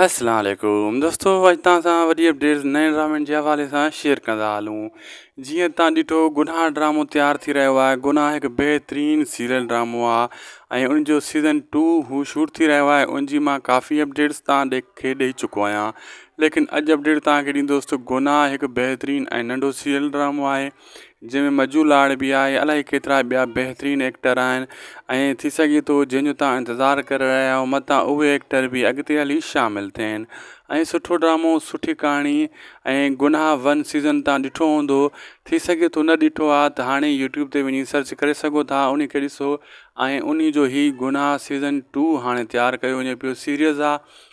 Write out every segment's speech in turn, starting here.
السلام عليڪم دوستو اڄ توهان سان وڏي اپڊيٽ نئين ڊرامن جي حوالي سان شيئر ڪندا هلون جيئن توهان ڏٺو گناهه ڊرامو تيار ٿي رهيو آهي گناهه هڪ بهترين سيريل ڊرامو آهي ۽ ان جو سيزن ٽو هو شوٽ ٿي رهيو آهي ان جي مان ڪافي اپڊيٽس توهان ڏي کي ڏيئي چڪو آهيان ليڪن اڄ اپڊيٽ توهان کي ڏيندوستو گناهه هڪ بهترين ۽ ننڍو سيريل ڊرامو آهي جنهن ۾ مجو لاڙ به آهي الائي ڪيترا ٻيا بهترين ايڪٽر آهن ۽ ٿي سگهي ٿو جنهن جو تان انتظار ڪري رهيا آهيو متان اهي ايڪٽر به اڳتي هلي شامل ٿين ۽ سٺو ڊرامو سٺي ڪهاڻي ۽ گناهه ون سيزن تان ڏٺو هوندو ٿي سگهي ٿو نه ڏٺو آهي ته هاڻي يوٽيوب تي وڃي سرچ ڪري سگهو ٿا ان کي ڏسو ۽ انهي جو هي گناهه سيزن ٽو هاڻي تيار ڪيو وڃي پيو سيريز آهي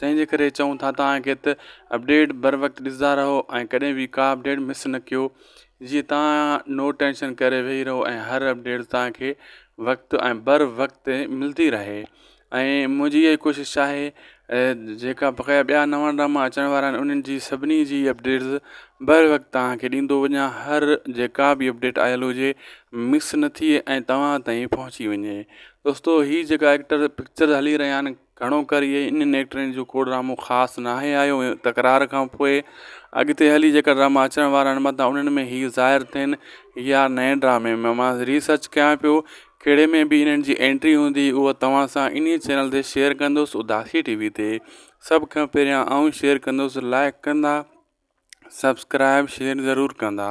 تنهن جي ڪري چئون ٿا توهان کي ته اپڊيٽ بر وقت ڏسندا رهو ۽ ڪڏهن به ڪا اپڊيٽ مس نه ڪيو جيئن توهان نو ٽينشن ڪري ويهي رهو ۽ هر اپڊيٽ توهان کي وقت ۽ بر وقت ملندي رهي ۽ منهنجي اها ئي ڪوشش آهي جيڪا بقايا ٻيا نوان ڊراما اچڻ وارا آهن انهن جي سڀني جي اپڊيٽس بر وقت توهان کي ڏيندو وڃا هر جيڪا بي اپڊيٽ آيل هجي مس نه ٿئي ۽ توهان تائين پهچي وڃي دوستو هي جيڪا ايڪٽر پڪچر هلي رهيا آهن گهڻو ڪري اهي انهن ايڪٽرن جو ڪو ڊرامو خاص ناهي آيو تڪرار کان پوء اڳتي هلي جيڪا ڊراما اچڻ وارا آهن متان انهن ۾ هي ظاهر ٿين يا نئين ڊرامي ۾ مان ري سرچ ڪيان پيو ڪهڙي ۾ به انهن جي انٽري هوندي اهو توهان سان انهي چينل تي شيئر ڪندس اداسي ٽي وي تي سڀ کان پهريان آئون شيئر ڪندس لائڪ ڪندا سبسڪرائب شيئر ضرور ڪندا.